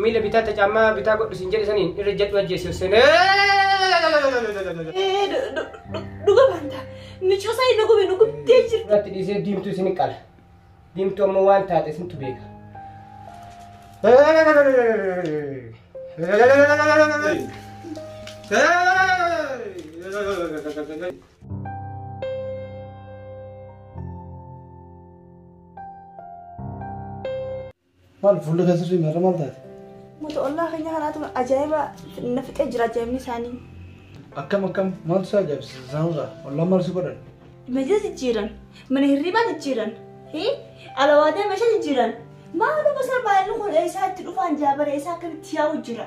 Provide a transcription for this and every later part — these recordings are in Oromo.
Miila bitaa ta caammaa bitaa godhu siin jedhe saniin irra jadhu ajjeessi hossene. Dhuga banta. Michuu sanii nu gube nu gubdee jirti. Irratti dhiisee diimtuu isin qala. Diimtuu ammoo waan taate isintu beeka. Maal fuulli kan sirrii maarra maal taate? Uummata ollaa keenya kanaatu ajaa'iba na fixee jira ajaa'ibni isaanii. Akkam akkam maaltu isaa ajaa'ibsiisa isaanirraa ollaan maal si godhan? Meeshaa jijjiiran, mana hirribaa jijjiiran, hii? alawaadaa meeshaa jijjiiran. Maaluma isaa baay'inni kun eessaa itti dhufaan jaabare eessaa akkamitti yaa'u jira.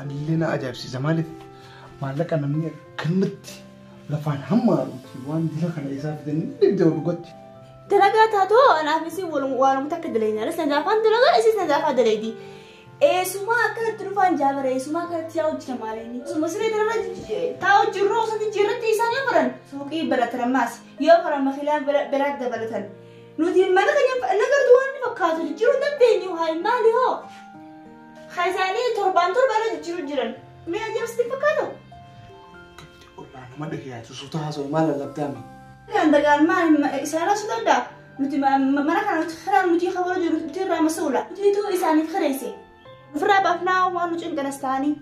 Anillee na ajaa'ibsiisa maaliif maallaqa namni akkanumatti lafaan hammaaruuti waan dila kana isaa fidanii dhibdee dhugatti. Dalagaa taatoo anaaf isin waanumatti akka dalagaa anas na daafaan dalagaa isis na daafaa dalagaa. Eessumaa akkanatti dhufaan jaabara eessumaa akkanatti yaa hojjeta maalinni. Suma siree dalagaa taa hojjirroo osoo jijjiirratti isaan yoo baran suuqii baratan ammaas yoo baran makilaan biraatti dabalatan. Nuti mana keenya nagartu waan fakkaatu jijjiiruu dandeenyu haa maali hoo? Kaisaanii torbaan torbaan irra jijjiiruu jiran. Mee ajabas itti fakkaatu? Gabdi ollaa nama dhagayaatu suuta haasa'u maal lallabdaame? Kan dagaan maal isaanirraa su danda'a? Nuti mana kana kanaan nuti kaboo jiru nuti irraa masuula. Nutiitu isaaniif kireesse. Ofirraa baafnaa waan nu cinqanas ta'anii.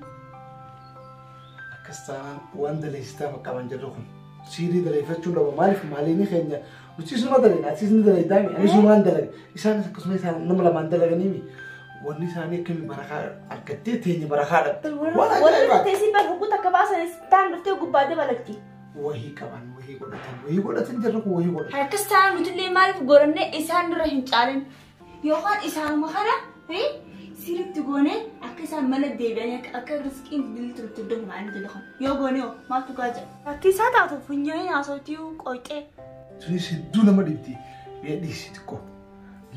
Akkas taanaan waan daleessitaa bakka waan jirru kun. Siirii daleeffachuun dhaba maaliif maaliin keenya Nutis numa dalagna, atis ni dalagdaa, anis numaan dalaga. Isaanis akkasuma isaan nama lamaan dalaganii mi? Wanni isaanii akkami barakaa argattee teenye barakaa dhabde. Waan Warri ajaa'ibaa. dhuftee si bar hukkuta akka baasan isaan dhuftee gubbaa dabalatti. Wahii qaban, wahii godhatan, wahii godhatan jirra kun wahii godhatan. Harkas taa'an nutillee maaliif gorannee isaan irra hin caalin. Yookaan isaanuma kana ta'e sirriitti goonee akka isaan mana deebi'anii akka akka riskiin billi turutti iddoo hin baane jedhu kan yoo goonee hoo maaltu gaa jedha. Bakki isaa taatu funyaanii haasawtii qoyxee. Sunis hedduu nama dhibdi. Mee dhiisi xiqqoo.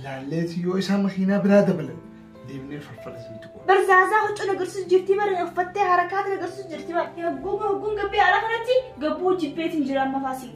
Laalleeti yoo isaa makiinaa biraa dabalan deemnee farfara sun xiqqoo. Barzaasaa huccuun agarsiisu jirtii bara uffattee harakaatiin agarsiisu jirtii bara. Hogguun hogguun gabbee ala kanatti gabbuu jibbeetiin jira amma faasii.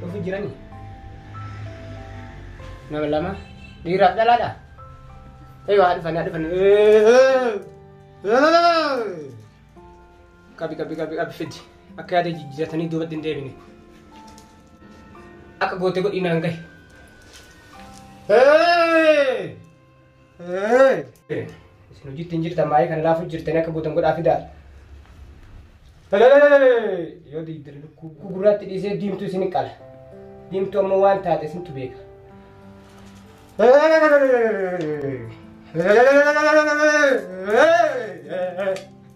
Dhufu jirani. Nama lama. Dhiiraaf dhalaadha. Eeyyuu haa dhufan haa dhufan. Qabi qabi qabi qabi fidi. Akka yaada jijjiiratanii duubatti hin deebine. Akka gootee godhinaan gahe. Hey! Isin hojiitti hin jirtan maayii kana laafu jirtan akka gootan godhaa fidaa. Yoo diiddir lukkuu gurraatti dhiisee diimtuu isin qala. Diimtuu ammoo waan taate isintu beeka.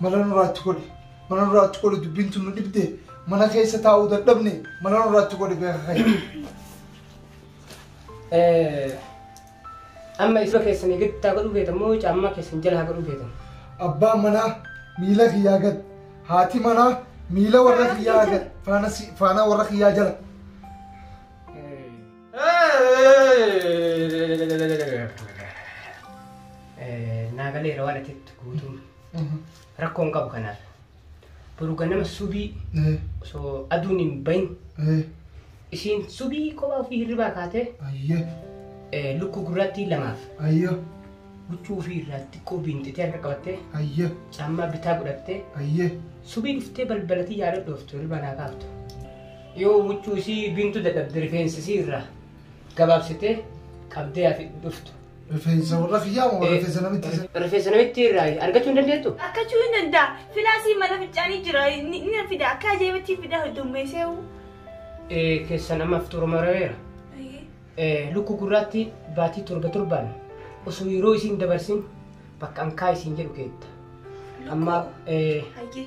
Mala nurraatti godhe mala nurraatti godhe dubbiin tun nu dhibde mana keessa taa'uu dadhabne mala nurraatti godhe beeka kee. Eh, Amma isba keessanii gadi taa godhuu feetan moo caammaa keessan jala haa godhuu feetan? Abbaan manaa miila kiyyaa gad haati manaa miila warra kiyyaa gad faana si- faana warra kiyyaa jala. Eh, Naa galeera waan atitti guutuun. Rakkoon qabu kanaaf. Boru ganama subii osoo aduun hin bahin isiin subii kophaa ofii hirribaa kaatee Ayyee. eh, lukkuu gurraattii lamaaf Ayyee. huccuu ofii irraa xiqqoo biinxitee harka qabattee Ayyee. caammaa bitaa godhattee Ayyee. subii dhuftee balbalatii yaada dhooftu hirribaa naa kaaftu. Yoo huccuu isii biintu dadhabde rifeensi isii irraa gabaabsitee qabdee hafi dhuftu. Rifeensa warra kiyyaa moo rifeensa namitti isa? Rifeensa namitti irraa argachuu hin dandeettu? Akkachuu hin danda'a. Filaasii mana fincaanii jira. Ni ni fida. Akka ajaa'ibaatti fida heddummeessee hoo. Eh, Keessan amma fixuura marareera. Eh, Lukkuu gurraatti baatii torba torbaan osoo yeroo isiin dabarsin bakka ankaa isiin jedhu keetta. Amma eh, Hayyee.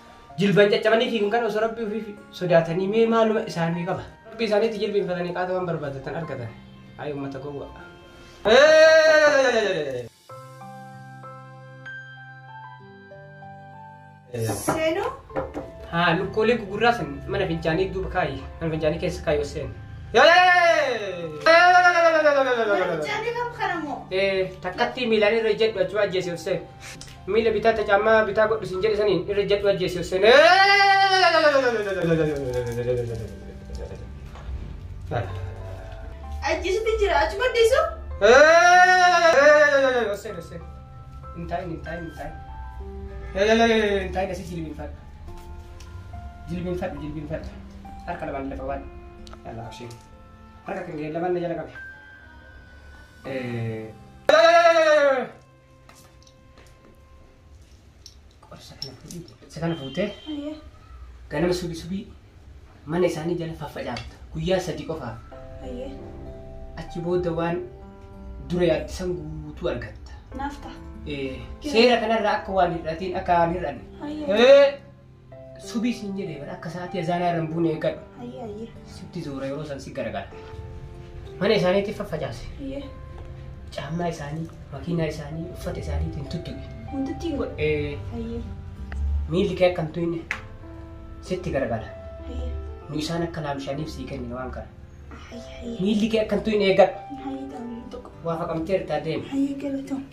Jilban caccabanii fiigan kana osoo rabbii ofii sodaatanii mee maaluma isaanii qaba. Rabbii isaaniitti jilbiinfatanii qaata waan barbaadatan argatan. Hayi uummata gowwa. Seenuu Haa lukkuulee gugurraa san mana fincaanii duuba kaayi. Mana fincaanii keessa kaayi oseen. Jaalli kam kana moo? Takkattii miilaan irra jedhu achuma ajjeesee oseen. Miila bitaa ta caammaa bitaa godhu siin jedhe saniin irra jadhu ajjeese sene. Ajjeesutti jira achi maddiisu. Osseen osseen. Hin taa'in hin taa'in hin taa'in. Hin taa'in asii jilbiinfadha. Jilbiinfadha jilbiinfadha. Harka lamaan lafa waan. Yalla abshiin. Harka kan ga'e lamaan na jala qabe. Eh. Qorsa kana fuudhii jedhe. Isa kana fuutee Ayyee. ganama subii subii mana isaanii jala faffacaafta. Guyyaa sadii qofaaf. Ayyee. Achi booda waan dura yaadde san guutuu argatta. Naaf ta'a. Eh, Seera kanarraa akka waan hir'atiin akka waan hir'anne. Ayyee. Hee! Subii siin jedhee bara akka sa'aatii azaanaa irra hin buune eeggadhu. Ayyee ayyee. Sitti zuura yeroo san si garagaara. Mana isaaniitti faffacaase. Ayyee. Caammaa isaanii, makiinaa isaanii, uffata isaaniitiin tuttuqe. Wantitti hin godhe. Ee, Ayyee. Miilli kee akka hin tuyne sitti garagaara. Ayyee. Nu isaan akka laamshaniif sii kennine waan kana. Ayyee ayyee. Miilli kee akka hin tuyne eeggadhu. Ayyee taa'u tokko. Waa faqamtee irraa deemi. Ayyee galatoom.